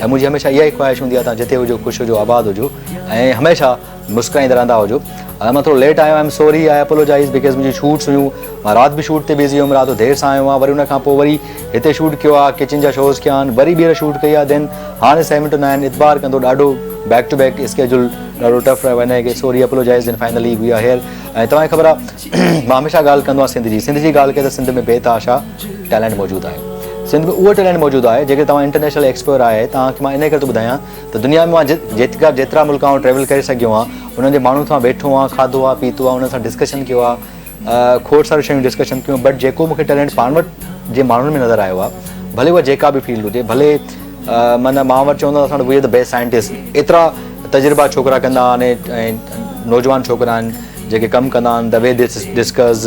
۽ منهنجي هميشه اها ئي خواهش هوندي آهي توهان جتي هجو خوش هجو آباد هجو ۽ هميشه مسڪرائيندا رهندا هجو اڄ مان ٿورو ليٽ آيو آهيان I am sorry I apologise because منهنجي شوٽس هيون مان رات به شوٽ تي بزي هيم رات جو دير سان آيو آهيان وري ان کان پوء وري هتي شوٽ ڪيو آهي ڪچن جا شوز ڪيا آهن وري ٻيهر شوٽ ڪئي آهي دين هاڻي سهي منٽ نه آهن اعتبار ڪندو ڏاڍو بيڪ ٽو بيڪ اسڪيجول ڏاڍو ٽف رهيو آهي ڪي sorry apologise then finally we are here ۽ توهان کي خبر آهي مان هميشه ڳالهه ڪندو آهيان سنڌ جي سنڌ جي ڳالهه ڪري ته سنڌ ۾ بيت آشا ٽيلنٽ موجود آهي سنڌ ۾ اهو ٽيلنٽ موجود آهي جيڪڏهن توهان انٽرنيشنل ايڪسپلور آهي توهان کي مان انهي ڪري ٿو ٻڌايان ته دنيا ۾ مان جيترا جيترا ملڪ آئون ٽريول ڪري سگهيو آهيان انهن جي ماڻهن سان ويٺو آهيان کاڌو آهي پيتو آهي انهن سان ڊسڪشن ڪيو آهي کوڙ ساريون شيون ڊسڪشن ڪيون بٽ جيڪو مون کي ٽيلنٽ پاڻ وٽ جي ماڻهن ۾ نظر آيو آهي ڀلي اها جيڪا به فيلڊ هجي ڀلي معنيٰ مان وٽ چوندو اسان وٽ we are the best scientist ايترا تجربا ڇوڪرا ڪندا آهن نوجوان ڇوڪرا آهن جيڪي ڪم ڪندا آهن دا وي دي ڊسڪس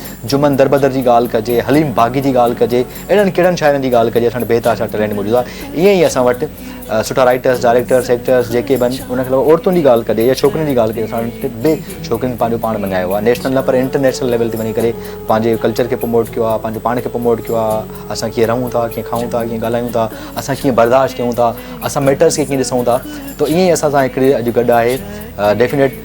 جمن دربدر جي ڳالهه ڪجي، حليم باغي جي ڳالهه ڪجي، اهڙن ڪهڙن شاعرن جي ڳالهه ڪجي اسان وٽ بيتحاشا ٽيلينٽ موجود آ. ائين ئي اسان وٽ سٺا رائيٽرس، ڊائريڪٽرس، ايڪٽرس جيڪي به آهن ان کي علاوه عورتن جي ڳالهه ڪجي يا ڇوڪرين جي ڳالهه ڪجي اسان وٽ به ڇوڪرين پنهنجو پاڻ مڃايو آ نيشنل نه پر انٽرنيشنل ليول تي وڃي ڪري پنهنجي ڪلچر کي پروموٽ ڪيو آ پنهنجو پاڻ کي پروموٽ ڪيو آ اسان ڪيئن رهون ٿا ڪيئن کائون ٿا ڪيئن ڳالهايون ٿا اسان ڪيئن برداشت ڪيون ٿا اسان ميٽرس کي ڪيئن ڏسون ٿا تو ائين ئي اسان سان هڪڙي اڄ گڏ آهي ڊيفينيٽ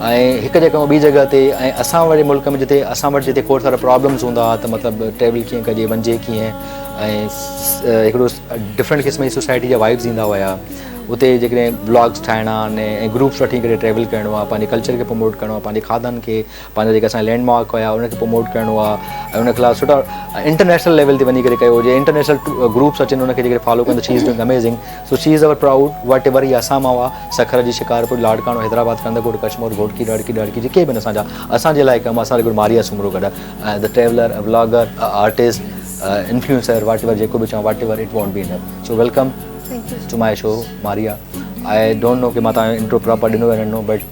۽ هڪ جڳهه کان ٻي جڳهه تي ۽ اسان واري ملڪ ۾ جتي اسان وٽ جتي کوڙ سارا پرابلمز هوندا ها ته مطلب ٽريول ڪيئن ڪجي وڃجي ڪيئن ۽ هڪڙو ڊفرنٽ قسم جي سوسائٽي جا وائبز ايندا هيا اتي جيڪڏهن بلاگز ٺاهڻا آهن ۽ گروپس وٺي ڪري ٽريول ڪرڻو آهي پنهنجي ڪلچر کي پروموٽ ڪرڻو آهي پنهنجي کاڌن کي پنهنجا جيڪي اسان لينڊ مارڪ هيا ان کي پروموٽ ڪرڻو آهي ۽ ان خلاف سٺا انٽرنيشنل ليول تي وڃي ڪري ڪيو هجي انٽرنيشنل گروپس اچن ان کي جيڪي فالو ڪن ته she is doing amazing so she is over proud whatever هي اسان مان هئا سکر جي شڪارپور لاڙڪاڻو حيدرآباد ڪنڌڪوٽ ڪشمور گهوٽڪي رڙڪي ڏڙڪي جي ڪي به نه اسان جا اسان جي لاء ڪم اسان ريگولر ماريا سومرو گڏ the traveller a vlogger a artist influencer whatever جيڪو به چاهو whatever it want be enough so welcome to my show Maria I don't know ڪي مان تان انٽرو پراپر ڏنو يا نه ڏنو بٽ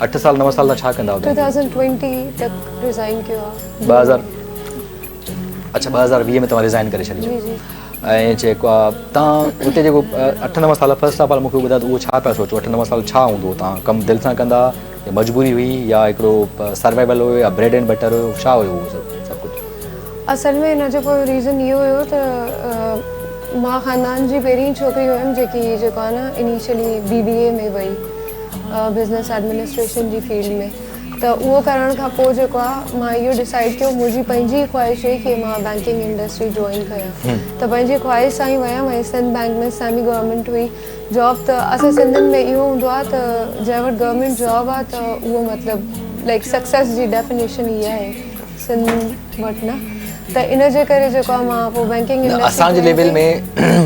اٺ سال نو سال تان ڇا ڪندا هئا؟ ٽو ٿائوزنڊ ٽوئنٽي تڪ ريزائن ڪيو آ. ٻه هزار اڇا ٻه هزار ويهه ۾ توهان ريزائن ڪري ڇڏي جي جي. ۽ جيڪو آ توهان اتي جيڪو اٺ نو سال فرسٽ آف آل مون کي اهو ٻڌايو ته اهو ڇا پيا سوچو اٺ نو سال ڇا هوندو هو توهان ڪم دل سان ڪندا يا مجبوري هئي يا هڪڙو سروائيول هو يا بريڊ اينڊ بٽر هو ڇا هو اهو سڀ سڀ ڪجهه. اصل ۾ ان جو پوء ريزن اهو هيو ته مان خاندان جي پهرين ڇوڪري هيم جيڪي جيڪو آهي نه انيشلي بي بي اي ۾ وئي بزنس ايڊمنسٽريشن جي فيلڊ ۾ ته اهو ڪرڻ کان پوء جيڪو آهي مان اهو ڊسائڊ ڪيو منهنجي پنهنجي ئي خواهش هئي ڪي مان بينڪنگ انڊسٽري جوائن ڪيان ته پنهنجي خواهش سان ئي ويم ۽ سنڌ بينڪ ۾ سيمي گورنمينٽ هئي جاب ته اسان سنڌين ۾ اهو هوندو آهي ته جنهن وٽ گورنمينٽ جاب آهي ته اهو مطلب لائڪ سڪسيس جي ڊيفينيشن هي آهي سنڌ وٽ نه ته ان جي ڪري جيڪو آ مان پوء بينڪنگ انڊسٽري اسان جي ليول ۾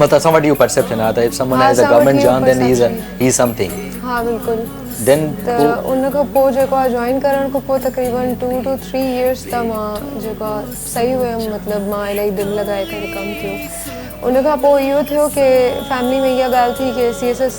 مطلب اسان وٽ اهو پرسيپشن آ ته if someone has a government job then he's he is something ها بلڪل ڏين ته ان کان پوء جيڪو آ جوائن ڪرڻ کان پوء تقريبن ٽو ٽو ٿري يئرس ته مان جيڪو آ صحيح هيم مطلب مان الائي دل لڳائي ڪري ڪم ڪيو ان کان پوء اهو ٿيو ڪي فيملي ۾ اها ڳالهه ٿي ڪي C S S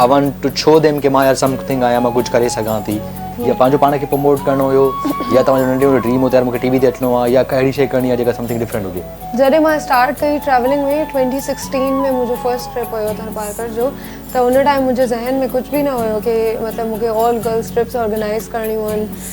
I want to show them ڪي مان يار سم ٿنگ آهيان مان ڪجهه ڪري سگهان ٿي يا پنهنجو پاڻ کي پروموٽ ڪرڻو هيو يا توهان جو ننڍي هوندي ڊريم هو ته يار مونکي ٽي وي تي اچڻو آهي يا ڪا اهڙي شي ڪرڻي آهي جيڪا سم ٿنگ ڊفرنٽ هجي. جڏهن مان اسٽارٽ ڪئي ٽريولنگ ۾ ٽوئنٽي سڪسٽين ۾ منهنجو فرسٽ ٽرپ هيو ٿرپارڪر جو ته ان ٽائيم منهنجي ذهن ۾ ڪجهه به نه هيو ڪي مطلب مونکي آل گرلس ٽرپس آرگنائيز ڪرڻيون آهن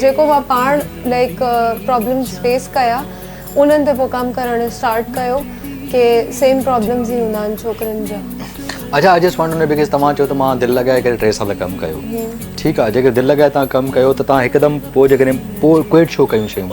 جيڪو مان پاڻ لائڪ پرابلمز فيس ڪيا انهن تي پوء ڪم ڪرڻ اسٽارٽ ڪيو ڪي سيم پرابلمز ئي هوندا آهن ڇوڪرين جا اچا I just want to know because توهان چيو ته مان دل لڳائي ڪري ٽي سال ڪم ڪيو ٺيڪ آهي جيڪڏهن دل لڳائي توهان ڪم ڪيو ته توهان هڪدم پوء جيڪڏهن پوء ڪوئٽ ڇو ڪيون شيون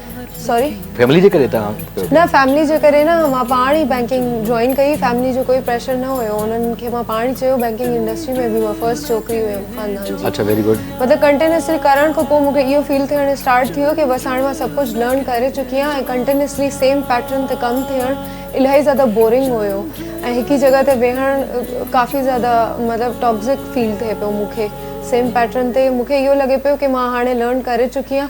سوري فيملي جي ڪري تان نه فيملي جي ڪري نه مان پاڻ ئي بينڪنگ جوائن ڪئي فيملي جو ڪوئي پريشر نه هيو انهن کي مان پاڻ ئي چيو بينڪنگ انڊسٽري ۾ به مان فرسٽ ڇوڪري هيم خاندان جي اچھا ويري گڊ مطلب ڪنٽينيوسلي ڪرڻ کان پوء مونکي اهو فيل ٿيڻ اسٽارٽ ٿيو ڪي بس هاڻ مان سڀ ڪجھ لرن ڪري چڪي آهيان ۽ ڪنٽينيوسلي سيم پيٽرن تي ڪم ٿيڻ الاهي زياده بورنگ هيو ۽ هڪ ئي جڳهه تي ويهڻ ڪافي زياده مطلب ٽاڪسڪ فيل ٿئي پيو مونکي سيم پيٽرن تي مونکي اهو لڳي پيو ڪي مان هاڻي لرن ڪري چڪي آهيان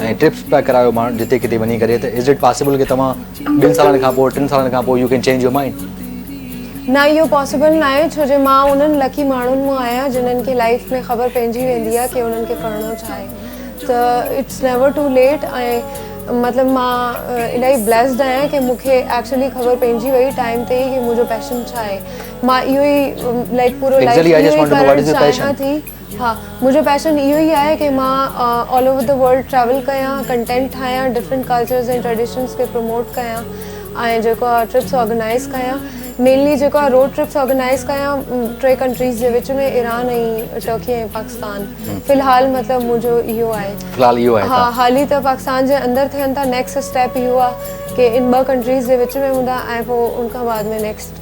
۽ ٽرپس پيا ڪرايو ماڻهن جتي ڪٿي وڃي ڪري ته از اٽ پاسيبل ڪي توهان ٻن سالن کان پوء ٽن سالن کان پوء you can change your mind. نه اهو پاسيبل ناهي ڇو جي مان انهن لڪي ماڻهن مان آهيان جنهن کي لائيف ۾ خبر پئجي ويندي آهي ڪي انهن کي ڪرڻو ڇا آهي ته اٽس نيور ٽو ليٽ ۽ مطلب مان الائي بليسڊ آهيان ڪي مون کي ايڪچولي خبر پئجي وئي ٽائيم تي ئي ڪي منهنجو پيشن ڇا آهي مان اهو ئي لائيڪ پورو لائيف اهو ئي ڪرڻ چاهيان ٿي. ها منهنجو پيشن اهو ئي آهي ڪي مان all over the world travel ڪيان ڪنٽينٽ ٺاهيان ڊفرينٽ ڪلچرز ۽ ٽريڊيشنز کي پروموٽ ڪيان ۽ جيڪو آهي ٽرپس آرگنائيز ڪيان مينلي جيڪو آهي روڊ ٽرپس آرگنائيز ڪيان ٽي ڪنٽريز جي وچ ۾ ايران ۽ ٽرڪي ۽ پاڪستان في الحال مطلب منهنجو اهو آهي في الحال اهو آهي ها حالي ته پاڪستان جي اندر ٿين ٿا نيڪسٽ اسٽيپ اهو آهي ڪي ان ٻه ڪنٽريز جي وچ ۾ هوندا ۽ پوء ان کان بعد ۾ نيڪسٽ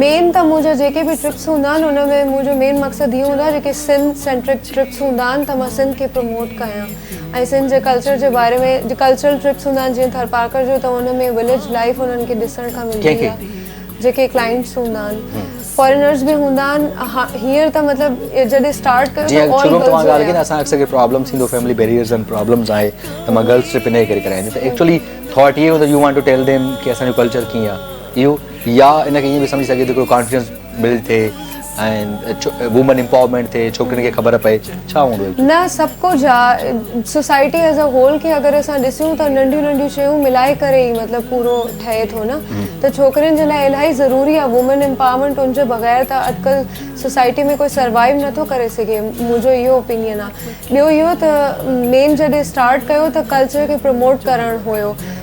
مين ته منهنجا جيڪي به ٽرپس هوندا آهن ان ۾ منهنجو مين مقصد هي هوندو آهي جيڪي سنڌ سينٽرڪ ٽرپس هوندا آهن ته مان سنڌ کي پروموٽ ڪيان ۽ سنڌ جي ڪلچر جي باري ۾ جي ڪلچرل ٽرپس هوندا آهن جيئن ٿرپارڪر جو ته ان ۾ وليج لائيف انهن کي ڏسڻ کان ملندي آهي جيڪي ڪلائنٽس هوندا آهن فارينرز به هوندا آهن هينئر ته مطلب جڏهن اسٽارٽ ڪيو ته اول گرلز هيا جيئن اسان اڪثر ڪي پرابلمس ٿيندو فيملي بيريئرز اينڊ پرابلمس آهي ته مان گرلز ٽرپ ان ڪري ڪرايان ته ايڪچولي ٿاٽ هي هوندو you want to tell them ڪي اسان جو ڪلچر ڪيئن آهي اهو يا ان کي ائين به سمجهي سگهجي ٿو ڪو ڪانفيڊنس بلڊ ٿئي ۽ وومن امپاورمينٽ ٿئي ڇوڪرين کي خبر پئي ڇا هوندو نه سڀ ڪجهه آهي سوسائٽي ايز ا هول کي اگر اسان ڏسيون ته ننڍيون ننڍيون شيون ملائي ڪري ئي مطلب پورو ٺهي ٿو نه ته ڇوڪرين جي لاء الاهي ضروري آهي وومن امپاورمينٽ ان جي بغير ته اڄڪلهه سوسائٽي ۾ ڪوئي سروائيو نٿو ڪري سگهي منهنجو اهو اوپينين آهي ٻيو اهو ته مين جڏهن اسٽارٽ ڪيو ته ڪلچر کي پروموٽ ڪرڻ هيو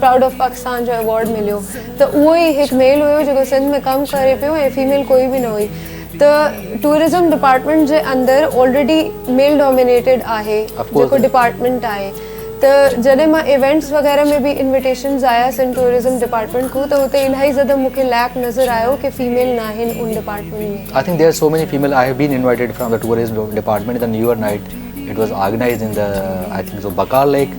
پرائوڊ آف پاڪستان جو ايوارڊ مليو ته اهو ئي هڪ ميل هيو جيڪو سنڌ ۾ ڪم ڪري پيو ۽ فيميل ڪوئي به نه هئي ته ٽوئرزم ڊپارٽمينٽ جي اندر آلريڊي ميل ڊومينيٽيڊ آهي جيڪو ڊپارٽمينٽ آهي ته جڏهن مان ايونٽس وغيره ۾ به انويٽيشنز آيا سنڌ ٽوئرزم ڊپارٽمينٽ کون ته اتي الاهي زياده مون کي ليڪ نظر آيو ڪي فيميل ناهن ان department ۾ I think there so many female I have been invited from tourism department ته new year night it was organised in ته آئي ٿنڪ سو بقار ليڪ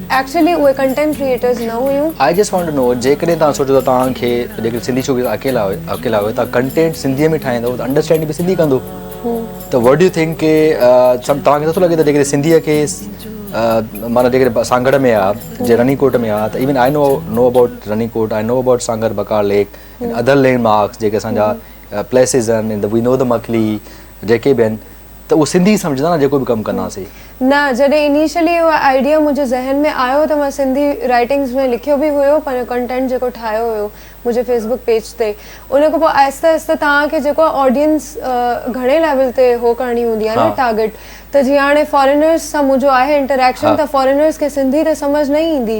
ايڪچلي اهي ڪنٽينٽ ڪريئيٽرز نه هيون. I just want to know جيڪڏهن توهان سوچو ٿا توهان کي جيڪڏهن سنڌي شو بزنس اڪيلا اڪيلا آهيو توهان ڪنٽينٽ سنڌي ۾ ٺاهيندو ته انڊرسٽينڊ به سنڌي ڪندو ته وٽ يو ٿنڪ ڪي سم توهان کي نٿو لڳي ته جيڪڏهن سنڌي کي مانا جيڪڏهن سانگهڙ ۾ آهي جي رني ڪوٽ ۾ آهي ته even I know know about Rani Kot I know about Sanghar Bakar lake other landmarks جيڪي اسان جا پليسز آهن وي نو ته مڪلي جيڪي به آهن ته اهو سنڌي سمجهندا نه جيڪو به ڪم ڪندا سي. نه جڏهن انيشلي اهو آئيڊيا منهنجي ذهن ۾ آيو ته مان سنڌي رائيٽنگز ۾ لکيو به هيو پنهنجو ڪنٽينٽ جيڪو ٺاهيو هيو منهنجي فيسبوڪ پيج تي ان کان پوء آهستي آهستي توهان کي جيڪو آهي آڊينس گهڻي ليول تي هو ڪرڻي هوندي آهي نه ٽارگيٽ ته جيئن هاڻي فارينرز سان منهنجو آهي انٽريڪشن ته فارينرز کي سنڌي ته سمجهه نه ايندي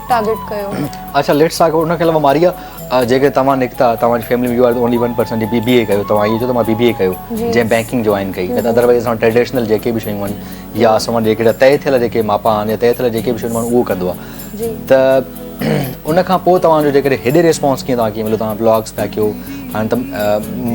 ٽارگيٽ ڪيو اچا ليٽس ٽاڪ اباٽ ان کي علاوه ماريا جيڪي توهان نڪتا توهان جي family you are only one person جي بي بي اي ڪيو توهان اهو چيو ته مان بي بي اي ڪيو جنهن بينڪنگ جوائن ڪئي نه ته ادر وائز اسان ٽريڊيشنل جيڪي به شيون آهن يا اسان جيڪي طئي ٿيل جيڪي ماپا آهن يا طئي ٿيل جيڪي به شيون آهن اهو ڪندو آهي ته ان کان پوء توهان جو جيڪڏهن هيڏي ريسپانس ڪيئن توهان کي مليو توهان بلاگس پيا ڪيو هاڻي ته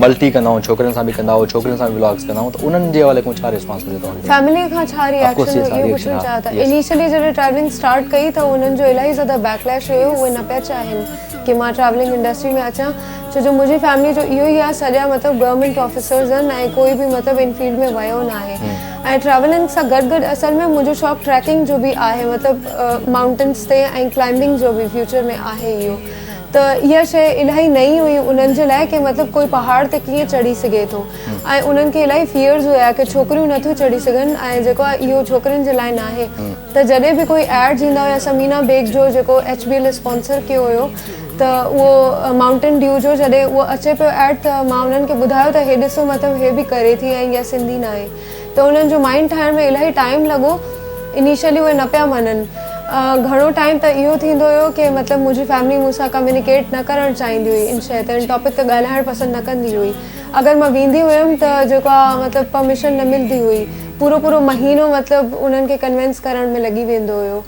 ملٽي ڪندا آهيون ڇوڪرين سان به ڪندا آهيون ڇوڪرين سان به ولاگس ڪندا آهيون ته انهن جي حوالي کان ڇا ريسپانس مليو توهان کي فيملي کان ڇا ريئڪشن هو اهو پڇڻ چاهيان ٿا انيشلي جڏهن ٽريولنگ اسٽارٽ ڪئي ته انهن جو الاهي زياده بيڪ ليش هيو اهي نه پيا چاهين ڪي مان ٽريولنگ انڊسٽري ۾ اچان ڇو جو منهنجي فيملي جو اهو ئي آهي سڄا مطلب گورنمينٽ آفيسرز آهن ۽ ڪوئي به مطلب ان فيلڊ ۾ ويو نه آهي ۽ ٽريولنگ سان گڏ گڏ اصل ۾ منهنجو شوق ٽريڪنگ جو به آهي مطلب مائونٽنس تي ۽ ڪلائمبنگ جو به فيوچر ۾ آهي اهو ته اها شيء الاهي نئين هئي انهن جي لاء ڪي مطلب ڪوئي پهاڙ تي ڪيئن چڙهي سگهي ٿو ۽ انهن کي الاهي فيئرز هيا ڪي ڇوڪريون نه ٿيون چڙهي سگهن ۽ جيڪو آهي اهو ڇوڪرين جي لاء ناهي ته جڏهن به ڪوئي ايڊز ايندا هيا سمينا بيگ جو جيڪو ايڇ بي ايل اسپانسر ڪيو هيو ته اهو مائونٽن ڊيو جو جڏهن اهو اچي پيو ايڊ ته مان انهن کي ٻڌايو ته هي ڏسو مطلب هي به ڪري ٿي ۽ اها سنڌي ناهي ته انهن جو مائينڊ ٺاهڻ ۾ الاهي ٽائيم لڳو انيشلي اهي نه پيا مڃن گهڻو ٽائيم ته اهو ٿيندو هيو ڪي مطلب منهنجي فيملي مون سان ڪميونيڪيٽ نه ڪرڻ چاهيندي هئي ان شيء تي ان ٽاپڪ تي ڳالهائڻ پسند نه ڪندي هئي اگر مان ويندي هيم ته جيڪو آهي مطلب پرميشن نه ملندي هئي پورو پورو مهينو مطلب انهن کي ڪنوينس ڪرڻ ۾ لڳي ويندو هيو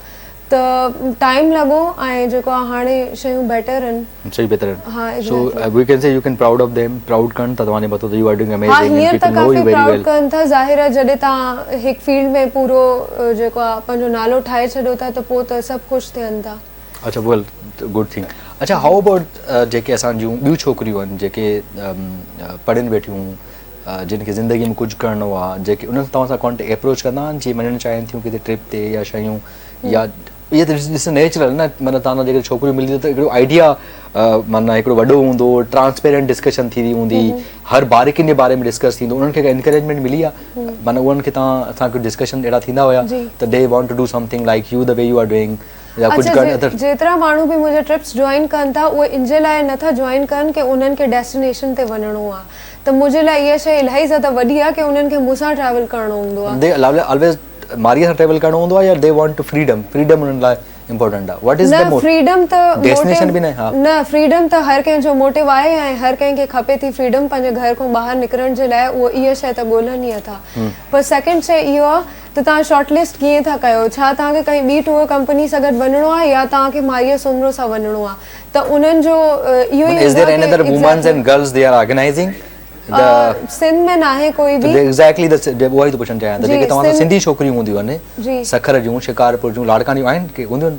ته ٽائيم لڳو ۽ جيڪو آ هاڻي شيون بيٽر ان. شيون بيتر ان. ها exactly. So we can see you can proud of them proud ڪن ٿا توهان جي مٿو ته يو آر ڊوئنگ اميزنگ ها هينئر ته ڪافي پرائوڊ ڪن ٿا ظاهر آ جڏهن توهان هڪ فيلڊ ۾ پورو جيڪو آ پنهنجو نالو ٺاهي ڇڏيو ٿا ته پو ته سڀ خوش ٿين ٿا. اڇا ويل گڊ ٿنگ اڇا هائو ابائوٽ جيڪي اسان جون ٻيون ڇوڪريون ان جيڪي پڙهين ويٺيون. جن کي زندگي ۾ ڪجهه ڪرڻو آ جيڪي انهن توهان سان ڪانٽيڪٽ اپروچ ڪندا آهن جي وڃڻ چاهين ٿيون ڪٿي ٽرپ تي يا شيون يا اهي ته ڏس نيچرل نه مطلب تان جيڪي ڇوڪريون ملي ته هڪڙو آئيڊيا معنی هڪڙو وڏو هوندو ٽرانسپيرنٽ ڊسڪشن ٿي وئي هوندي هر باريڪين جي باري ۾ ڊسڪس ٿيندو انهن کي ڪا انڪريجمينٽ ملي آهي معنی انهن کي تان اسان ڪجهه ڊسڪشن اهڙا ٿيندا هيا ته they want to do something like you the way you are doing يا ڪجهه ڪرڻ اچا اٿر. جيترا ماڻهو به منهنجا ٽرپس جوائن ڪن ٿا اهي انجي لاء نه ٿا جوائن ڪن ڪي انهن کي ڊيسٽينيشن تي وڃڻو آ ته منهنجي لاء اها شئي الائي زياده وڏي آ ڪي انهن کي مون سان ٽريول ڪرڻو هوندو آ. دي الائي الويز ماريء سان ٽريول ڪرڻو هوندو آ يا they want to freedom freedom انهن لاء امپورٽنٽ آ واٽ از نه دي موٽ فريڊم ته ڊيسٽينيشن به موٽيو ناهي ها. نه فريڊم ته هر ڪنهن جو موٽيو آهي ۽ هر ڪنهن کي کپي ٿي فريڊم پنهنجي گهر کان ٻاهر نڪرڻ جي لاء اهو اها شئي ته ڳولهن ئي اٿا پر سيڪنڊ شئي اهو آ ته توهان شارٽ لسٽ ڪيئن ٿا ڪيو؟ ڇا توهان کي ڪنهن ٻي ٽوئر ڪمپني سان گڏ وڃڻو آهي يا توهان کي ماريا سومرو سان وڃڻو آهي ته انهن جو اهو ئي هوندو آهي ڪي Exactly سنڌ ۾ ناهي ڪوئي به Exactly ته اهو ئي ٿو پڇڻ چاهيان ته جيڪي توهان سان سنڌي ڇوڪريون هونديون آهن سکر جون شڪارپور جون لاڙڪاڻي جون آهن ڪي هونديون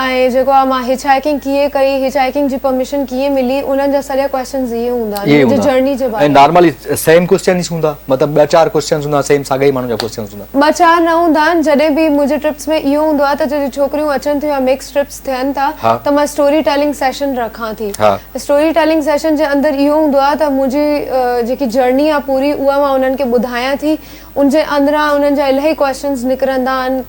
۽ جيڪو آ مان هچ هائيڪنگ ڪيئن ڪئي هچ هائيڪنگ جي پرميشن ڪيئن ملي انهن جا سڄا ڪويسچنز اهي هوندا ان جي جرني جي باري ۾ نارملي سيم ڪويسچنز هوندا مطلب ٻه چار ڪويسچنز هوندا سيم ساڳئي ماڻهو جا ڪويسچنز هوندا. ٻه چار نه هوندا آهن جڏهن به منهنجي ٽرپس ۾ اهو هوندو آهي ته جڏهن ڇوڪريون اچن ٿيون يا مڪس ٽرپس ٿين ٿا ته مان اسٽوري ٽيلنگ سيشن رکان ٿي اسٽوري ٽيلنگ سيشن جي اندر اهو هوندو آهي ته منهنجي جيڪي جرني آهي پوري اها مان انهن کي ٻڌايان ٿي ان جي اندران انهن جا الاهي ڪويسچنز نڪرندا آهن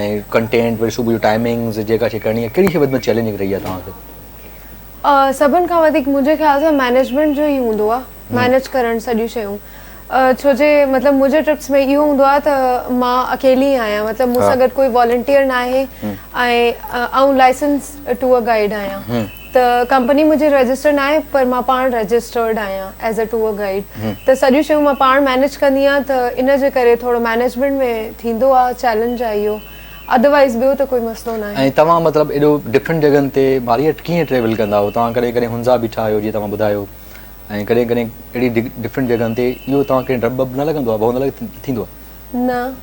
۽ ڪنٽينٽ وري صبح جو ٽائمنگز جيڪا شي ڪرڻي آهي ڪهڙي شي وڌيڪ چئلينجنگ رهي آهي توهان کي؟ سڀن کان وڌيڪ منهنجي خيال سان مينيجمينٽ جو ئي هوندو آهي مينيج ڪرڻ سڄيون شيون ڇو جي مطلب منهنجي ٽرپس ۾ اهو هوندو آهي ته مان اڪيلي ئي آهيان مطلب مون سان گڏ ڪوئي والنٽيئر ناهي ۽ آئون لائسنس ٽوئر گائيڊ آهيان ته ڪمپني منهنجي رجسٽر ناهي پر مان پاڻ رجسٽرڊ آهيان ايز اي ٽوئر گائيڊ ته سڄيون شيون مان پاڻ مينيج ڪندي آهيان ته ان جي ڪري ٿورو مينيجمينٽ ۾ ٿيندو آهي چيلنج آهي اهو اڌروائيز ٻيو ته ڪوئي مسئلو ناهي. ۽ توهان مطلب ايڏو ڊفرنٽ جڳهن تي ماريئٽ ڪيئن ٽريول ڪندا آهيو توهان ڪڏهن ڪڏهن هنزا بيٺا آهيو جيئن توهان ٻڌايو ۽ ڪڏهن ڪڏهن اهڙي ڊفرنٽ جڳهن تي اهو توهان کي ڊپ وپ نه لڳندو آهي ڀؤ نه لڳ ٿيندو آهي. نه.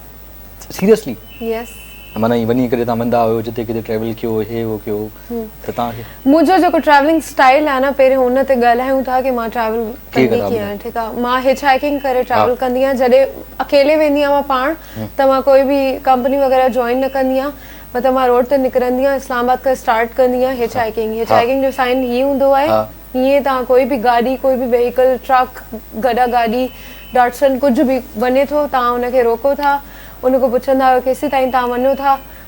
سيريسلي. يس. معنيٰ ائين وڃي ڪڏهن توهان ويندا هيو جتي ڪٿي ٽريول ڪيو هي هو ڪيو. ته توهان کي منهنجو جيڪو ٽريولنگ اسٽائيل آهي نه پهريون ان تي ڳالهايون ٿا ڪي مان ٽريول ڪندي ڪيئن آهيان ٺيڪ آهي مان هچ هائيڪنگ ڪري ٽريول ڪندي آهيان جڏهن اڪيلي ويندي آهيان مان پاڻ ته مان ڪوئي به ڪمپني وغيره جوائن نه ڪندي آهيان مطلب مان روڊ تي نڪرندي آهيان اسلام آباد کان اسٽارٽ ڪندي آهيان هچ هائيڪنگ هچ هائيڪنگ جو سائن هي هوندو آهي هيئن توهان ڪوئي به گاڏي ڪوئي به وهيڪل ٽرڪ گڏا گاڏي ڊاٽسن ڪجهه به وڃي ٿو توهان ان کي روڪو ٿا ان کان پڇندا آهيو ڪيسين تائين توهان وڃو ٿا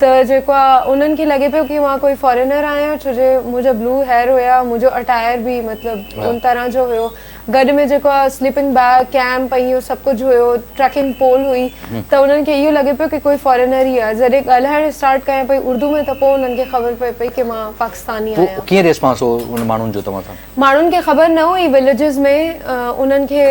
ته جيڪو آ انهن کي لڳي پيو ڪي مان ڪوئي فارينر آهيان ڇو جي منهنجا بلو هيئر هيا منهنجو اٽائر به مطلب ان طرح جو هيو گڏ ۾ جيڪو آ سليپنگ بيگ ڪيمپ ۽ اهو سڀ ڪجهه هيو ٽريڪنگ پول هئي ته انهن کي اهو لڳي پيو ڪي ڪوئي فارينر ئي آ جڏهن ڳالهائڻ اسٽارٽ ڪيان پئي اردو ۾ ته پوء انهن کي خبر پئي پئي ڪي مان پاڪستاني آهيان. پوء ڪيئن ريسپانس هو ان ماڻهن جو توهان سان؟ ماڻهن کي خبر نه هئي وليجز ۾ انهن کي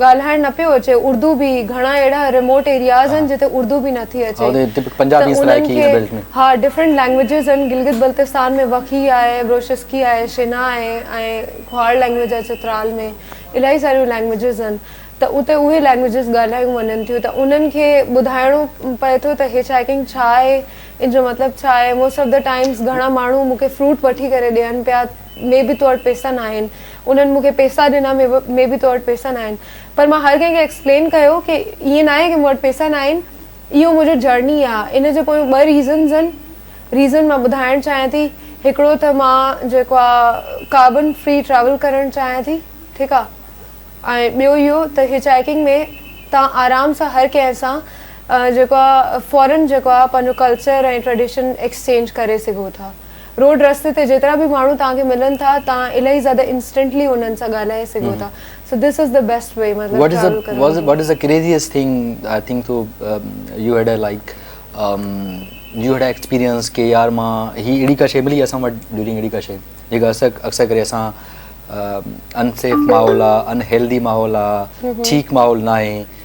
ڳالهائڻ نه پيو اچي اردو به گهڻا اهڙا ريموٽ ايرياز آهن جتي اردو به نٿي اچي ته انهن کي ها ڊفرنٽ لينگويجز آهن گلگت بلتستان ۾ وکي آهي بروشسڪي آهي شنا آهي ۽ کهواڙ لينگويج آهي چترال ۾ الاهي ساريون لينگويجز آهن ته اتي اهي لينگويجز ڳالهايون وڃن ٿيون ته انهن کي ٻڌائڻو پئي ٿو ته هچ هائيڪنگ ڇا آهي ان جو مطلب ڇا آهي موسٽ آف دا ٽائمز گهڻا ماڻهو مون کي فروٽ وٺي ڪري ڏين پيا مي بي تو وٽ پيسا ناهن انهن مون کي پيسا ڏنا مي بي تو وٽ پيسا ناهن پر مان هر ڪنهن کي ايڪسپلين ڪيو ڪي ائين ناهي ڪي مون وٽ پيسا ناهن اهو منهنجو جرني آ ان جي پويون ٻه ريزنز هن ريزن مان ٻڌائڻ چاهيان ٿي هڪڙو ته مان جيڪو آ ڪاربن فري ٽريول ڪرڻ چاهيان ٿي ٺيڪ آ ۽ ٻيو اهو ته هچائيڪنگ ۾ تان آرام سان هر ڪنهن سان جيڪو آ فورن جيڪو آ پنهنجو ڪلچر ۽ ٽريڊيشن ايڪسچينج ڪري سگهو ٿا روڊ رستي تي جيترا به ماڻهو توهان کي ملن ٿا توهان الاهي زياده انسٽنٽلي انهن سان ڳالهائي سگهو ٿا so this is the best way مطلب ٽريول ڪرڻ جو. What is the craziest thing I think so you had a like you had a experience ڪي يار مان هي اهڙي ڪا شي ملي اسان وٽ ڊيورنگ اهڙي ڪا شي جيڪا اسان اڪثر ڪري اسان ان سيف ماحول آهي ان هيلدي ماحول آهي ٺيڪ ماحول ناهي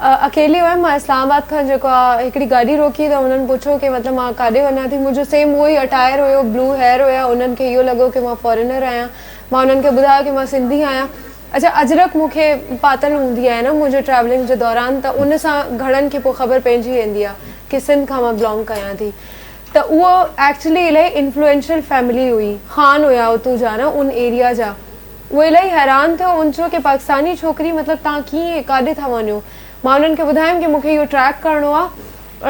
اڪيلي هيم مان اسلام آباد کان جيڪو آ هڪڙي گاڏي روڪي ته هنن پڇيو ڪي مطلب مان ڪاڏي وڃان ٿي منهنجو سيم اهو ئي اٽائر هيو بلو هيئر هيا انهن کي اهو لڳو ڪي مان فارينر آهيان مان انهن کي ٻڌايو ڪي مان سنڌي آهيان اچا اجرڪ مون کي پاتل هوندي آهي نه منهنجي ٽريولنگ جي دوران ته ان سان گهڻن کي پوء خبر پئجي ويندي آ ڪي سنڌ کان مان بلانگ ڪيان ٿي ته اهو ايڪچلي الائي انفلوئنشل فيملي هئي خان هيا اتو جا نه ان ايريا جا اهو الائي حيران ٿيو ان چيو ڪي پاڪستاني ڇوڪري مطلب تهان ڪيئن ڪاڏي ٿا وڃو مان انهن کي ٻڌايم ڪي مون کي اهو ٽريڪ ڪرڻو آ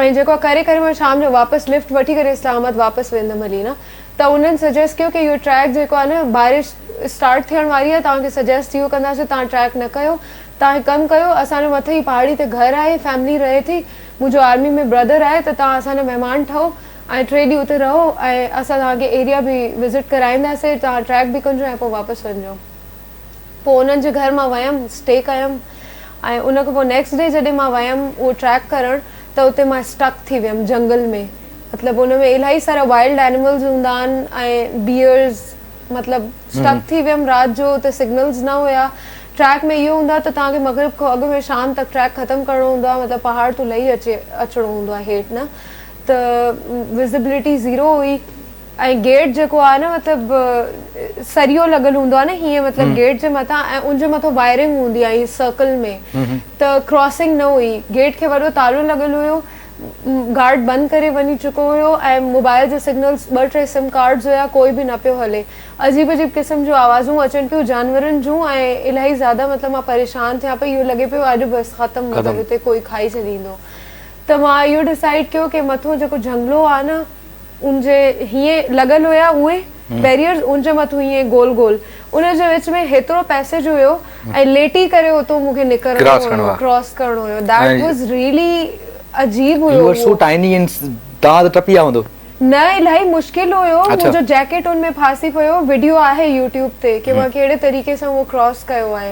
۽ جيڪو آ ڪري ڪري مان شام جو واپس لفٽ وٺي ڪري اسلام آباد واپس ويندم هلي نه ته انهن سجيسٽ ڪيو ڪي اهو ٽريڪ جيڪو آ نه بارش اسٽارٽ ٿيڻ واري آ تهان کي سجيسٽ اهو ڪنداسين تهان ٽريڪ نه ڪيو تهان هڪ ڪم ڪيو اسان جو مٿي ئي پهاڙي تي گهر آهي فيملي رهي ٿي منهنجو آرمي ۾ برادر آهي ته تهان اسان جا مهمان ٺهو ۽ ٽي ڏينهن اتي رهو ۽ اسان توهان کي ايريا به وزٽ ڪرائينداسين توهان ٽريڪ به ڪنجو ۽ پوء واپس وڃجو پوء انهن جي گهر مان ويم اسٽي ڪيم ۽ ان کان پوء نيڪسٽ ڊي جڏهن مان ويم اهو ٽريڪ ڪرڻ ته اتي مان اسٽڪ ٿي ويم جهنگل ۾ مطلب ان ۾ الاهي سارا وائلڊ اينيملز هوندا آهن ۽ بيئرز مطلب اسٽڪ ٿي ويم رات جو اتي سگنلز نه هيا ٽريڪ ۾ اهو هوندو آهي ته توهان کي مغرب کان اڳ ۾ شام تڪ ٽريڪ ختم ڪرڻو هوندو آهي مطلب پهاڙ تون لهي اچي اچڻو هوندو آهي هيٺ نه ته وزبلٽي زيرو هئي ۽ گيٽ جيڪو آهي نه مطلب سريو لڳل هوندو آهي نه هيئن مطلب گيٽ جي مٿان ۽ ان جي مٿان وائرنگ هوندي آهي هيئن سرڪل ۾ ته ڪراسنگ نه هئي گيٽ کي وڏو تالو لڳل هيو گارڊ بند ڪري وڃي چڪو هيو ۽ موبائل جا سگنلز ٻه ٽي سم ڪارڊز هيا ڪوئي به نه پيو هلي عجيب عجيب قسم جون آوازون اچن پيون جانورن جون ۽ الاهي زياده مطلب مان پريشان ٿيان پئي اهو لڳي پيو اڄ بس ختم مطلب هتي ڪوئي کائي ڇڏيندو ته مان اهو ڊسائيڊ ڪيو ڪي مٿو جيڪو جهنگلو آ نه ان جي هيئن لڳل هيا اهي بيريئرز ان جي مٿو هيئن گول گول ان جي وچ ۾ هيترو پيسيج هيو ۽ ليٽي ڪري اتو مون کي نڪرڻو هيو ڪراس ڪرڻو هيو ڌيٽ واز ريلي عجيب هيو you are so tiny in توهان ته ٽپي آ هوندو. نه الاهي مشڪل هيو منهنجو جيڪيٽ ان ۾ ڦاسي پيو وڊيو آهي يوٽيوب تي ڪي مان ڪهڙي طريقي سان اهو ڪراس ڪيو آهي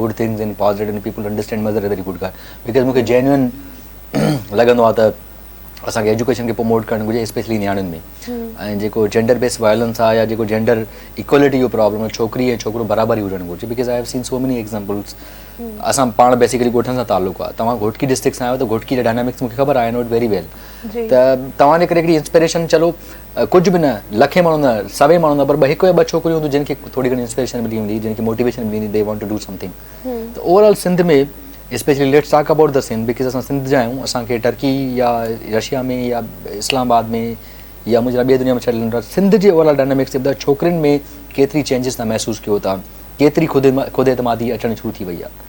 good things in positive in people understand mother a very good guy because مون کي جينوئن لڳندو آهي ته اسانکي ايجوڪيشن کي پروموٽ ڪرڻ گهرجي اسپيشلي نياڻين ۾ ۽ جيڪو جينڊر بيس وائلنس آهي يا جيڪو جينڊر ايڪوالٽي جو پرابلم آهي ڇوڪري ۽ ڇوڪرو برابر ئي هجڻ گهرجي بڪاز آئي هيو سين سو ميني ايگزامپلس اسان پاڻ بيسيڪلي ڳوٺن سان تعلق آهي تمام گهوٽڪي ڊسٽرڪٽ سان آهيو ته گهوٽڪي جا ڊائنامڪس مون کي خبر آهي آئي نو اٽ ويري ويل ته توهان جي ڪري هڪڙي انسپريشن چلو ڪجهه به نه لکين ماڻهو نه سوين ماڻهو نه پر ٻه هڪ يا ٻه ڇوڪريون هونديون جن کي ٿوري گهڻي انسپريشن ملي ويندي جن کي موٽيويشن ملي ويندي they want to do something ته overall Sindh ۾ specially let's talk about the Sindh because اسان سنڌ جا آهيون اسان کي ٽرڪي يا رشيا ۾ يا اسلام آباد ۾ يا مون جهڙا ٻي دنيا ۾ ڇڏ ڏنو اٿس سنڌ جي اوور آل ڊائنامڪس ابدا ڇوڪرين ۾ ڪيتري چينجز تان محسوس ڪيو ٿا ڪيتري خود خود اعتمادي اچڻ شروع ٿي وئي آهي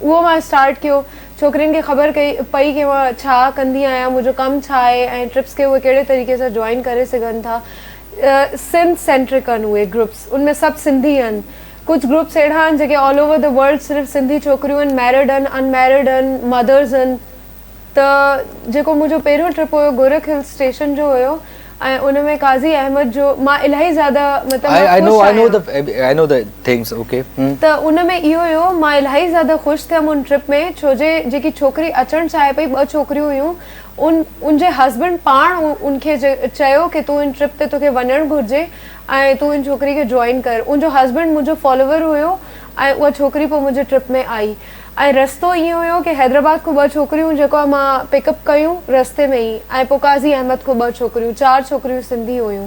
اهو مان اسٽارٽ ڪيو. ڇوڪرين کي خبر ڪئي پئي ڪي مان ڇا ڪندي آهيان، منهنجو ڪم ڇا آهي ۽ ٽرپس کي اهي ڪهڙي طريقي سان جوائن ڪري سگهن ٿا. سنڌ سينٽرڪ آهن اهي گروپس، ان ۾ سڀ سنڌي آهن. ڪجهه گروپس اهڙا آهن جيڪي آل اوور دي ورلڊ صرف سنڌي ڇوڪريون آهن، ميرڊ آهن، ان ميرڊ آهن، مدرز آهن. ته جيڪو منهنجو پهريون ٽرپ هيو گورک هل اسٽيشن جو هيو ۽ ان ۾ قاضي احمد جو مان الاهي زياده مطلب مان خوش آهيان I know I know I know the things okay ته ان ۾ اهو هيو مان الاهي زياده خوش ٿيم ان ٽرپ ۾ ڇو جي جيڪي ڇوڪري اچڻ چاهي پئي ٻه ڇوڪريون هيون ان ان جي هسبنڊ پاڻ ان کي چيو ڪي تون ان ٽرپ تي توکي وڃڻ گهرجي ۽ تون ان ڇوڪري کي جوائن ڪر ان جو هسبنڊ منهنجو فالوور هيو ۽ اها ڇوڪري پوء منهنجي ٽرپ ۾ آئي ۽ رستو ائين هيو ڪي حيدرآباد کون ٻه ڇوڪريون جيڪو امان پڪ اپ ڪيون رستي ۾ ئي ۽ پو قاضي احمد کون ٻه ڇوڪريون چار ڇوڪريون سنڌي هيون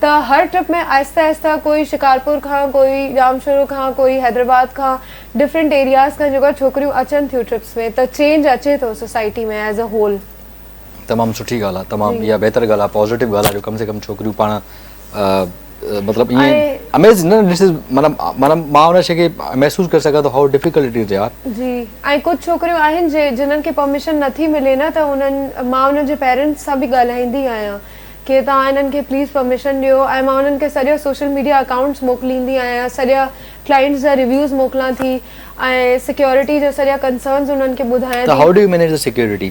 ته هر ٽرپ ۾ آهستي آهستي ڪوئي شڪارپور کان ڪوئي ڄامشورو کان ڪوئي حيدرآباد کان ڊفرنٽ ايرياز کان جيڪو ڇوڪريون اچن ٿيون ٽرپس ۾ ته چينج اچي ٿو سوسائٽي ۾ ايز ا هول. تمام سٺي ڳالهه آهي تمام اها بهتر ڳالهه آهي پازيٽو ڳالهه آهي جو ڪم سي ڪم ڇوڪريون پاڻ مطلب ائين اميزنگ نه ڏس مطلب مطلب مان ان شي کي محسوس ڪري سگهان ٿو هاء ڊفيڪلٽ اٽ از يار جي ۽ ڪجهه ڇوڪريون آهن جي جنن کي پرميشن نٿي ملي نه ته انهن مان انهن جي پيرنٽس سان به ڳالهائيندي آهيان ڪي توهان انهن کي پليز پرميشن ڏيو ۽ مان انهن کي سڄا سوشل ميڊيا اڪائونٽس موڪليندي آهيان سڄا ڪلائنٽس جا ريويوز موڪلان ٿي ۽ سيڪيورٽي جا سڄا ڪنسرنز انهن کي ٻڌايان ٿي ته هاء ڊو يو مينيج ته سيڪيورٽي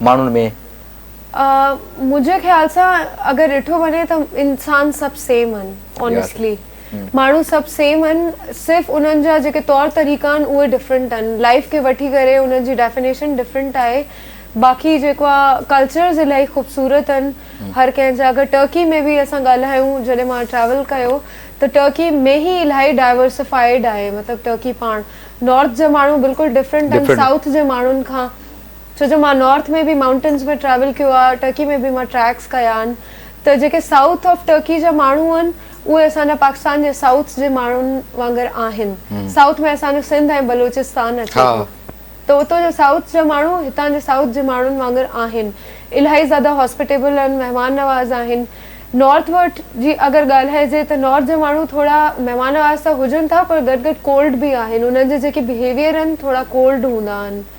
ماڻهن ۾. آ منهنجي خيال سان اگر ڏٺو وڃي ته انسان سڀ سيم هن آنيسٽلي ماڻهو سڀ سيم هن صرف انهن جا جيڪي طور طريقا هن اهي ڊفرنٽ هن لائف کي وٺي ڪري انهن جي ڊيفينيشن ڊفرنٽ آهي باقي جيڪو آ ڪلچرز الائي خوبصورت هن هر ڪنهن جا اگر ٽرڪي ۾ به اسان ڳالهايون جڏهن مان ٽريول ڪيو ته ٽرڪي ۾ هي الائي ڊائيورسفائيڊ آهي مطلب ٽرڪي پاڻ نارٿ جا ماڻهو بلڪل ڊفرنٽ هن سائوٿ جي ماڻهن کان ڇو جو مان نارٿ ۾ به مائونٽنز ۾ ٽريول ڪيو آهي ٽرڪي ۾ به مان ٽريڪس ڪيا آهن ته جيڪي سائوٿ آف ٽرڪي جا ماڻهو آهن اهي اسان جا پاڪستان جي سائوٿ جي ماڻهن وانگر آهن سائوٿ ۾ اسان جو سنڌ ۽ بلوچستان اچي ٿو ته اتو جا سائوٿ جا ماڻهو هتان جي سائوٿ جي ماڻهن وانگر آهن الاهي زياده هاسپيٽيبل آهن مهمان نواز آهن نارٿ ورٽ جي اگر ڳالهائجي ته نارٿ جا ماڻهو ٿورا مهمان نواز ته هجن ٿا پر گڏ گڏ ڪولڊ به آهن انهن جا جيڪي بهيويئر آهن ٿورا ڪولڊ هوندا آهن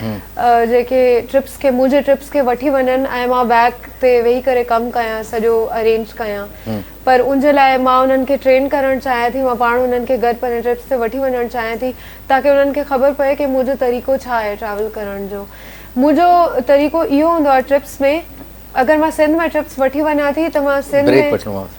جيڪي ٽرپس کي منهنجي ٽرپس کي وٺي وڃن ۽ مان بيڪ تي ويهي ڪري ڪم ڪيان سڄو ارينج ڪيان پر ان جي لاء مان انهن کي ٽرين ڪرڻ چاهيان ٿي مان پاڻ انهن کي گڏ پنهنجي ٽرپس تي وٺي وڃڻ چاهيان ٿي تاڪي انهن کي خبر پئي ڪي منهنجو طريقو ڇا آهي ٽريول ڪرڻ جو منهنجو طريقو اهو هوندو آهي ٽرپس ۾ اگر مان سنڌ ۾ ٽرپس وٺي وڃان ٿي ته مان سنڌ ۾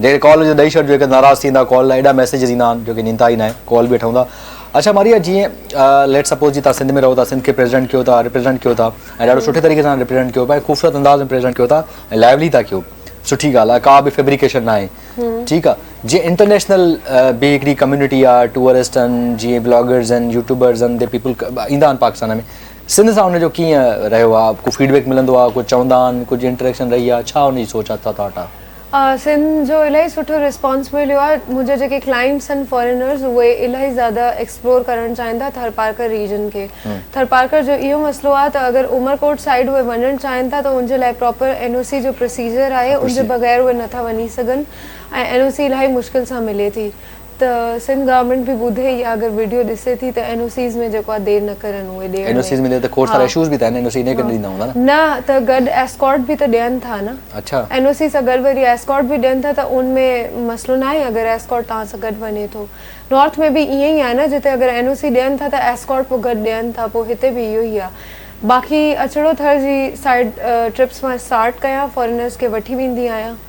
جيڪڏهن ڪال هجي ته ڏئي ڇڏجو هڪ ناراض ٿيندا ڪال لاء ايڏا ميسيجز ايندا آهن جو ڪين ايندا ئي ناهي ڪال به اٺئون ٿا اڇا ماريا جيئن ليٽ سپوز جي تان سنڌ ۾ رهو ٿا سنڌ کي پريزيڊنٽ ڪيو ٿا ريپريزينٽ ڪيو ٿا ۽ ڏاڍو سٺي طريقي سان ريپريزينٽ ڪيو پاهي خوبصورت انداز ۾ پريزينٽ ڪيو ٿا ۽ لائيولي ٿا ڪيو سٺي ڳالهه آهي ڪا به فيبريڪيشن ناهي ٺيڪ آهي جيئن انٽرنيشنل به هڪڙي ڪميونٽي آهي ٽوئرسٽ آهن جيئن بلاگرز آهن يوٽيوبرز آهن دي پيپل ايندا آهن پاڪستان ۾ سنڌ سان ان جو ڪيئن رهيو آهي ڪو فيڊبيڪ ملندو آهي ڪو چوندا آهن ڪجهه انٽريڪشن رهي آهي ڇا ان جي سوچ آهي ڇا ٿاٽ آهي سنڌ جو الاهي سٺو ريسپانس مليو آهي منهنجا جيڪي ڪلائنٽس آهن فارينرز اهي الاهي زياده ايڪسپلور ڪرڻ چاهين ٿا ٿرپارڪر ريجن کي ٿرپارڪر جو اهو مسئلو آهي ته اگر عمرڪوٽ سائيڊ اهي وڃڻ چاهين ٿا ته ان جي لاء پراپر اين او سي جو پروسيجر آهي ان جي بغير اهي نٿا وڃي سگهن ۽ اين او سي الاهي مشڪل سان ملي ٿي ته سنڌ گورنمينٽ به ٻڌي يا اگر ويڊيو ڏسي ٿي ته اين او سيز ۾ جيڪو آهي دير نه ڪرن اهي ڏيڻ ۾ اين او سيز ۾ دير ته کوڙ سارا اشوز به ٿا اين او سي نه ڪري ڏيندا هوندا نه نه ته گڏ ايسڪارٽ به ته ڏين ٿا نه اڇا اين او سي سان گڏ وري ايسڪارٽ به ڏين ٿا ته ان ۾ مسئلو نه آهي اگر ايسڪارٽ توهان سان گڏ وڃي ٿو نارٿ ۾ به ائين ئي آهي نه جتي اگر اين او سي ڏين ٿا ته ايسڪارٽ پوء گڏ ڏين ٿا پوء هتي به اهو ئي آهي باقي اچڙو ٿر جي سائيڊ ٽرپس مان اسٽارٽ ڪيان فارينرز کي وٺي ويندي آهيان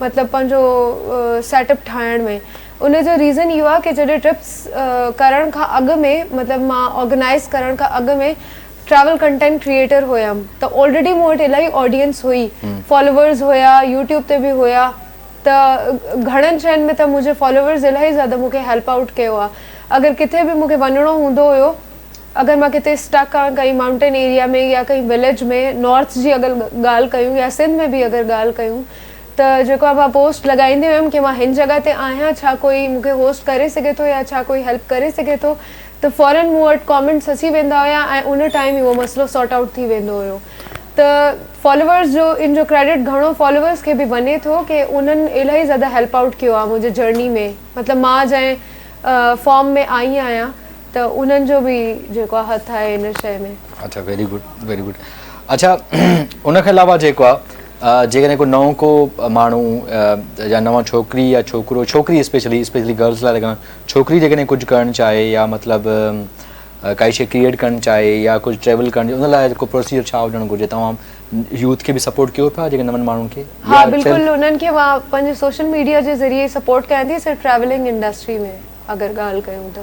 مطلب پنهنجو سيٽ اپ ٺاهڻ ۾ ان جو ريزن اهو آهي ڪي جڏهن ٽرپس ڪرڻ کان اڳ ۾ مطلب مان آرگنائز ڪرڻ کان اڳ ۾ ٽريول ڪنٽينٽ ڪريئيٽر هيم ته آلريڊي مون وٽ الاهي آڊينس هئي فالوورز هيا يوٽيوب تي به هيا ته گهڻن شين ۾ ته منهنجي فالوورز الاهي زياده مون کي هيلپ آئوٽ ڪيو آهي اگر ڪٿي به مون کي وڃڻو هوندو هيو اگر مان ڪٿي اسٽڪ آن ڪنهن مائونٽين ايريا ۾ يا ڪنهن وليج ۾ نارٿ جي اگر ڳالهه ڪيون يا سنڌ ۾ به اگر ڳالهه ڪيون ته جيڪو آهي مان پوسٽ لڳائيندي هيم ڪي مان هن جڳهه تي آهيان ڇا ڪوئي مون کي هوسٽ ڪري سگهي ٿو يا ڇا ڪوئي هيلپ ڪري سگهي ٿو ته فورن مون وٽ ڪامينٽس اچي ويندا هيا ۽ ان ٽائيم اهو مسئلو سارٽ آئوٽ ٿي ويندو هيو ته فالوورس جو ان جو ڪريڊٽ گهڻو فالوورس کي به وڃي ٿو ڪي انهن الاهي زياده هيلپ آئوٽ ڪيو آهي منهنجي جرني ۾ مطلب مان جنهن فارم ۾ آئي آهيان ته انهن جو به جيڪو آ هٿ آهي ان شيء ۾. اڇا ويري گڊ ويري گڊ اڇا ان کان علاوه جيڪو آ جيڪڏهن ڪو نئون ڪو ماڻهو يا نوان ڇوڪري يا ڇوڪرو ڇوڪري اسپيشلي اسپيشلي گرلس لاء لڳان ڇوڪري جيڪڏهن ڪجهه ڪرڻ چاهي يا مطلب ڪائي شيء ڪريئيٽ ڪرڻ چاهي يا ڪجهه ٽريول ڪرڻ چاهي ان لاء ڪو پروسيجر ڇا هجڻ گهرجي توهان يوٿ کي به سپورٽ ڪيو پيا جيڪي نون ماڻهن کي ها بلڪل انهن کي مان پنهنجي سوشل ميڊيا جي ذريعي سپورٽ ڪيان ٿي سر ٽريولنگ انڊسٽري ۾ اگر ڳالهه ڪيون ته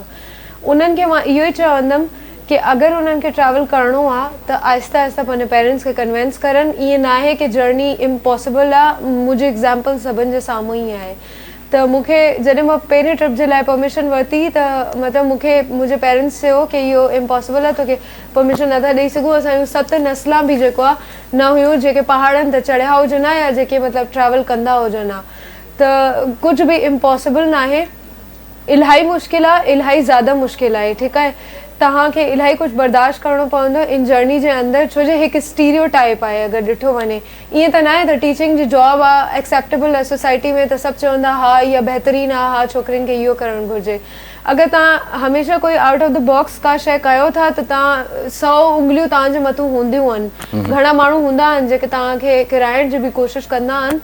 انهن کي مان اهو ئي چوندم ڪي اگر انهن کي ٽريول ڪرڻو آ ته آهسته آهسته پنهنجي پيرنٽس کي ڪنوينس ڪرن ائين ناهي ڪي جرني امپاسبل آ منهنجي ايگزامپل سڀن جي سامهون ئي آهي ته مون کي جڏهن مان پهرين ٽرپ جي لاء پرميشن ورتي ته مطلب مون کي منهنجي پيرنٽس چيو ڪي اهو امپاسبل آ توکي پرميشن نٿا ڏئي سگهون اسان جون ست نسلان به جيڪو آ نه هيون جيڪي پهاڙن تي چڙهيا هجن ها يا جيڪي مطلب ٽريول ڪندا هجن ها ته ڪجهه به امپاسبل ناهي الاهي مشڪل آ الاهي زياده مشڪل آهي ٺيڪ آهي توهان کي الاهي ڪجهه برداشت ڪرڻو پوندو ان جرني جي اندر ڇو جو هڪ اسٽيريو ٽائيپ آهي اگر ڏٺو وڃي ائين ته ناهي ته ٽيچنگ جي جاب آ ايڪسيپٽيبل آهي سوسائٽي ۾ ته سڀ چوندا ها اها بهترين آ ها ڇوڪرين کي اهو ڪرڻ گهرجي اگر توهان هميشه ڪوئي آئوٽ آف دي باڪس ڪا شئي ڪيو ٿا ته توهان سئو انگليون توهان جي مٿو هونديون آهن گهڻا ماڻهو هوندا آهن جيڪي توهان کي ڪرائڻ جي به ڪوشش ڪندا آهن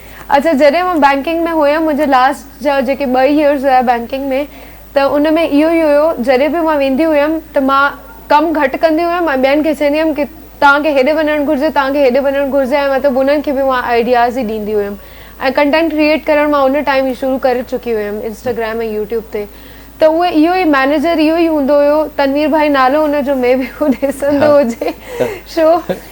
اچا جڏهن مان بئنڪنگ ۾ هيم منهنجا لاسٽ جا جيڪي ٻه يئرز هيا بئنڪنگ ۾ ته ان ۾ اهو ئي هيو جڏهن به مان ويندي هيم ته مان ڪم گهٽ ڪندي هيم ۽ ٻين کي چوندي هيم ڪي توهان کي هيڏي وڃڻ گهرجي توهان کي هيڏي وڃڻ گهرجي ۽ مطلب انهن کي به مان آئيڊياز ئي ڏيندي هيم ۽ ڪنٽينٽ ڪريئيٽ ڪرڻ مان ان ٽائيم ئي شروع ڪري چڪي هيم انسٽاگرام ۽ يوٽيوب تي ته اهو اهو ئي مئنيجر اهو ئي هوندو هيو تنوير ڀائي نالو ان جو مي بي هو ڏسندو هجي شو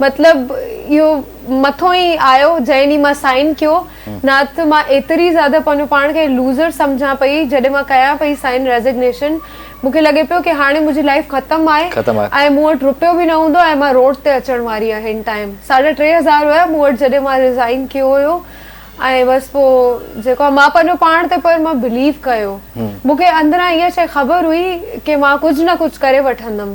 مطلب اهو مٿو ئي آيو جنهن ڏينهن مان سائن ڪيو نه ته مان ايتري زياده پنهنجو پاڻ کي لوزر سمجهان پئي جڏهن مان ڪيان پئي سائن ريزگنيشن مون کي لڳي پيو ڪي هاڻي منهنجي لائيف ختم آهي ۽ مون وٽ روپيو به نه هوندو ۽ مان روڊ تي اچڻ واري آهيان هن ٽائيم ساڍا ٽي هزار هيا مون وٽ جڏهن مان ريزائين ڪيو هيو ۽ بس پو جيڪو آهي مان پنهنجو پاڻ تي پر مان بليف ڪيو مون کي اندران اها شئي خبر هئي ڪي مان ڪجهه نه ڪجهه ڪري وٺندم.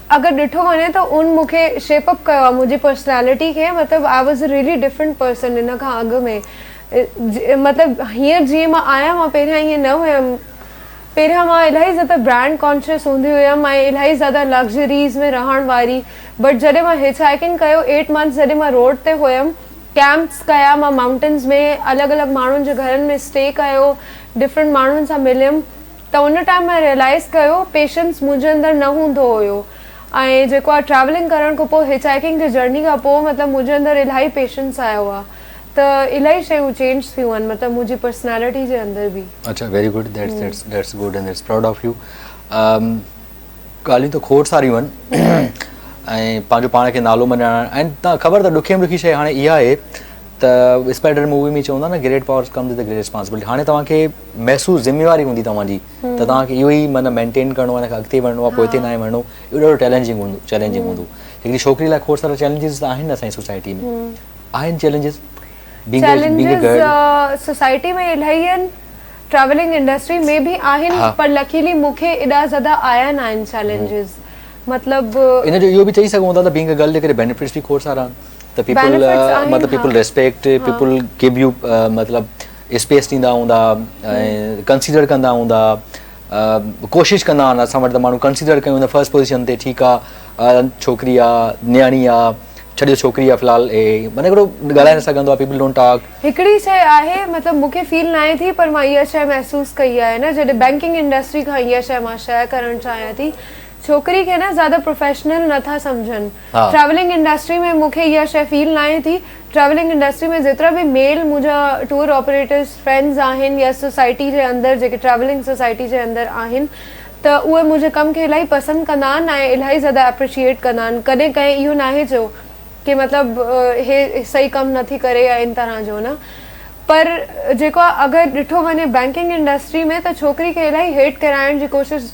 اگر ڏٺو وڃي ته ان مون کي شيپ اپ ڪيو آ منهنجي پرسنالٽي کي مطلب I was really different person ان کان اڳ ۾ مطلب هينئر جيئن مان آهيان مان پهريان ائين نه هيم پهريان مان الاهي زياده برانڊ ڪانشيس هوندي هيم ۽ الاهي زياده لگزريز ۾ رهڻ واري بٽ جڏهن مان هچ هائيڪنگ ڪيو ايٽ منٿس جڏهن مان روڊ تي هيم ڪيمپس ڪيا مان مائونٽنز ۾ الڳ الڳ ماڻهن جي گهرن ۾ اسٽي ڪيو ڊفرنٽ ماڻهن سان مليم ته ان ٽائيم مان ريئلائيز ڪيو پيشنس منهنجي اندر نه هوندو هيو ۽ جيڪو آ ٽريولنگ ڪرڻ کان پوء هچ هائيڪنگ جي جرني کان پوء مطلب منهنجي اندر الاهي پيشنس آيو آ ته الاهي شيون چينج ٿيون آهن مطلب منهنجي پرسنالٽي جي اندر به. اڇا very good that's good and that's proud of you ڳالهيون ته کوڙ ساريون آهن ۽ پنهنجو پاڻ کي نالو مڃائڻ ۽ تان خبر اٿئي ڏکي ۾ ڏکي شيء هاڻي اها آهي ته اسپائڊر مووي ۾ چوندا نه great powers comes with great responsibility هاڻي توهان کي محسوس ذميواري هوندي توهان جي ته توهان کي اهو ئي معنيٰ مينٽين ڪرڻو آهي ان کان اڳتي وڙهڻو آهي پوئتي ناهي وڙهڻو اهو ڏاڍو ٽيلنجنگ هوندو چيلنجنگ هوندو هڪڙي ڇوڪري لاء کوڙ سارا چيلنجز ته آهن اسان جي سوسائٽي ۾ آهن چيلنجز چيلنجز سوسائٽي ۾ الاهي آهن ٽريولنگ انڊسٽري ۾ به آهن پر لڪيلي مون کي ايڏا زياده آيا ناهن چيلنجز مطلب ان جو اهو به چئي سگهون ٿا ته بينگ ا گرل جي ڪري بينيفٽس به کوڙ سارا آهن ته پيپل Benefits آهن، مطلب ها. پيپل ريسپيڪٽ ها. پيپل گيو يو مطلب اسپيس ڏيندا هوندا ۽ ڪنسيڊر ڪندا هوندا ڪوشش ڪندا آهن اسان وٽ ته ماڻهو ڪنسيڊر ڪيون ته فرسٽ پوزيشن تي ٺيڪ آهي ڇوڪري آهي نياڻي آهي ڇڏيو ڇوڪري آهي في الحال هي معنيٰ هڪڙو ڳالهائي نه سگهندو آهي پيپل ڊونٽ ٽاڪ هڪڙي شيء آهي مطلب مون کي فيل ناهي ٿي پر مان اها شيء محسوس ڪئي آهي نه جڏهن بينڪنگ انڊسٽري کان اها شيء مان شيئر ڪرڻ چاهيان ٿي ڇوڪري کي نه زياده پروفيشنل نه ٿا سمجهن ٽريولنگ انڊسٽري ۾ مون کي اها شيء فيل ناهي ٿي. ٽريولنگ انڊسٽري ۾ جيترا به ميل منهنجا ٽوئر آپريٽرز فرينڊز آهن يا سوسائٽي جي اندر جيڪي ٽريولنگ سوسائٽي جي اندر آهن ته اهي منهنجي ڪم کي الاهي پسند ڪندا آهن ۽ الاهي زياده اپريشيئيٽ ڪندا آهن ڪڏهن ڪنهن اهو ناهي چيو ڪي مطلب هي صحيح ڪم نٿي ڪري يا ان طرح جو نه پر جيڪو اگر ڏٺو وڃي بينڪنگ انڊسٽري ۾ ته ڇوڪري کي الاهي هيٽ ڪرائڻ جي ڪوشش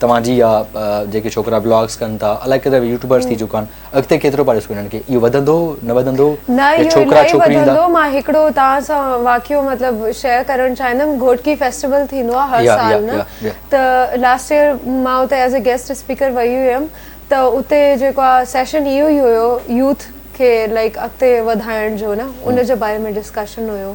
توهان جي يا جيڪي ڇوڪرا بلاگس ڪن ٿا الائي ڪيترا به يوٽيوبرس ٿي چڪا آهن اڳتي ڪيترو پيا ڏسون انهن کي اهو وڌندو نه وڌندو نه اهو الائي وڌندو مان هڪڙو توهان سان واقعو مطلب شيئر ڪرڻ چاهيندم گهوٽڪي فيسٽيول ٿيندو آهي هر سال نه ته لاسٽ ايئر مان اتي ايز اي گيسٽ اسپيڪر وئي هيم ته اتي جيڪو آهي سيشن اهو ئي هيو يوٿ کي لائڪ اڳتي وڌائڻ جو نه ان جي باري ۾ ڊسڪشن هيو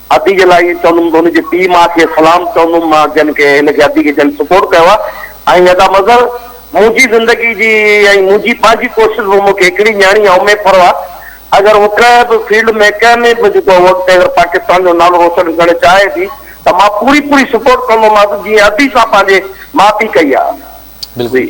ادي جي لاء ائين چوندم ته هن جي پيء ماء کي سلام چوندم مان جن کي هن کي ادي کي جن سپورٽ ڪيو آهي ۽ ادا مظهر منهنجي زندگي جي ۽ منهنجي پنهنجي ڪوشش هو مون کي هڪڙي نياڻي آهي اميد پرواه اگر هو ڪنهن به فيلڊ ۾ ڪنهن ۾ به جيڪو هو اڳتي اگر پاڪستان جو نالو روشن ڪرڻ چاهي ٿي ته مان پوري پوري سپورٽ ڪندوماس جيئن ادي سان پنهنجي ماء پيء ڪئي آهي. بلڪل.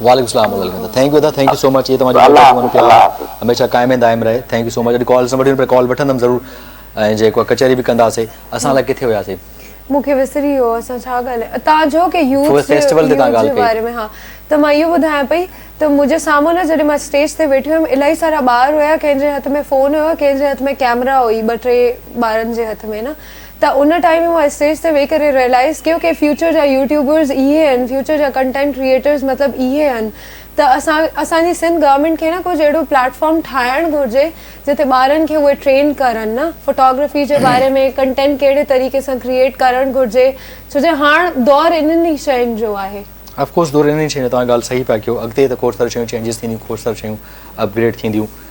وعليڪم السلام ورحمة الله ٿينڪ يو ادا ٿينڪ يو سو مچ اهي توهان جي محبت ۽ پيار هميشه قائم ۽ دائم رهي ٿينڪ يو سو مچ اڄ ڪالز نه وٺيم پر ڪال وٺندم ضرور ۽ جيڪو ڪچهري به ڪنداسي اسان لاء ڪٿي هياسي مون کي وسري ويو اسان ڇا ڳالهايو اتان جو ڪي يوٿ فيسٽيول تي تان ڳالهه ڪئي باري ۾ ها ته مان اهو ٻڌايان پئي ته منهنجي سامهون نه جڏهن مان اسٽيج تي ويٺي هيم الاهي سارا ٻار هيا ڪنهن جي هٿ ۾ فون هيو ڪنهن جي هٿ ۾ ڪيمرا هئي ٻه ٽي ٻارن جي هٿ ۾ نه ته ان ٽائيم مان اسٽيج تي ويهي ڪري ريئلائيز ڪيو ڪي فيوچر جا يوٽيوبرز اهي هن فيوچر جا ڪنٽينٽ ڪريئيٽرز مطلب اهي هن ته اسان اسان جي سنڌ گورمينٽ کي نه ڪجهه اهڙو پليٽ فارم ٺاهڻ گهرجي جتي ٻارن کي اهي ٽرين ڪرن نه فوٽوگرافي جي باري ۾ ڪنٽينٽ ڪهڙي طريقي سان ڪريئيٽ ڪرڻ گهرجي ڇو جو هاڻ دور انهن ئي شين جو آهي. اف ڪورس دور انهن ئي شين جو توهان ڳالهه صحيح پيا ڪيو اڳتي ته کوڙ ساريون شيون چينجز ٿينديون کوڙ ساريون شيون اپ گريڊ ٿينديون.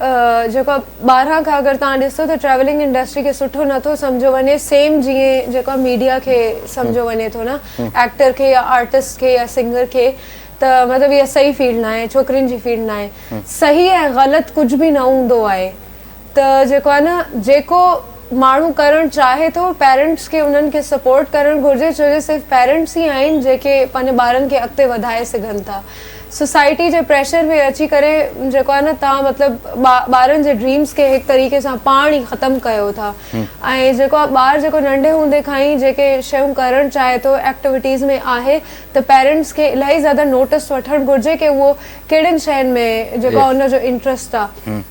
جيڪو آهي ٻاهران کان اگر توهان ڏسو ته ٽريولنگ انڊسٽري کي سٺو نه ٿو سمجهيو وڃي سيم جيئن جيڪو آهي ميڊيا کي سمجهيو وڃي ٿو نه ايڪٽر کي يا آرٽسٽ کي يا سنگر کي ته مطلب اها صحيح فيلڊ ناهي ڇوڪرين جي فيلڊ ناهي صحيح ۽ غلط ڪجهه به نه هوندو آهي ته جيڪو آهي نه جيڪو ماڻهو ڪرڻ چاهي ٿو پيرنٽس کي انهن کي سپورٽ ڪرڻ گهرجي ڇو جو صرف پيرنٽس ئي آهن جيڪي پنهنجي ٻارن کي اڳتي وڌائي سگهن ٿا سوسائٽي جي پريشر ۾ اچي ڪري جيڪو آهي نه توهان مطلب ٻارن جي ڊريمز کي هڪ طريقي سان پاڻ ئي ختم ڪيو ٿا ۽ جيڪو آهي ٻار جيڪو ننڍي هوندي کان ئي جيڪي شيون ڪرڻ چاهي ٿو ايڪٽويٽيز ۾ آهي ته پيرنٽس کي الاهي زياده نوٽس وٺڻ گهرجي ڪي اهو ڪهڙين شين ۾ جيڪو آهي ان جو انٽرسٽ آهي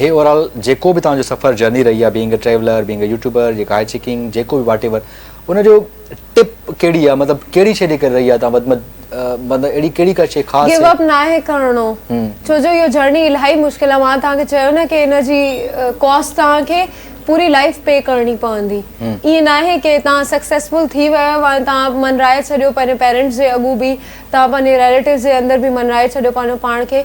هي اورال جيڪو به توهان جو سفر جرني رهي آهي being a traveller being a YouTuber جيڪا هاء چيڪنگ جيڪو به واٽ ايور ان جو ٽپ ڪهڙي آهي مطلب ڪهڙي شي ڏي ڪري رهي آهي توهان وڌ مد مطلب اهڙي ڪهڙي ڪا شي خاص گيو اپ نه آهي ڪرڻو ڇو جو اهو جرني الائي مشڪل آهي مان توهان کي چيو نه ڪي ان جي ڪاسٽ توهان کي پوري لائف پي ڪرڻي پوندي ايئن نه آهي ڪي توهان سڪسيسفل ٿي ويو آهي وان توهان منرائي ڇڏيو پنهنجي پيرنٽس جي اڳو به توهان پنهنجي ريليٽيوز جي اندر به منرائي ڇڏيو پنهنجو پاڻ کي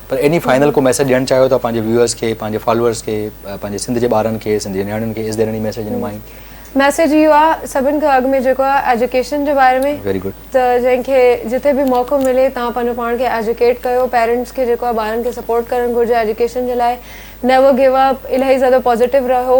پر ايني فائنل ڪو ميسيج ڏيڻ چاهيو ٿا پنهنجي ويوئرز کي پنهنجي فالوئرز کي پنهنجي سنڌ جي ٻارن کي سنڌ جي نياڻين کي اس ديرين هي ميسيج ڏنو مائين. ميسيج اهو آ سڀن کان اڳ ۾ جيڪو آ ايجوڪيشن جي باري ۾ Very good. ته جنهن کي جتي به موقعو ملي تان پنهنجو پاڻ کي ايجوڪيٽ ڪيو پيرنٽس کي جيڪو آ ٻارن کي سپورٽ ڪرڻ گهرجي ايجوڪيشن جي لاء نيور گيو اپ الاهي زياده پازيٽو رهو.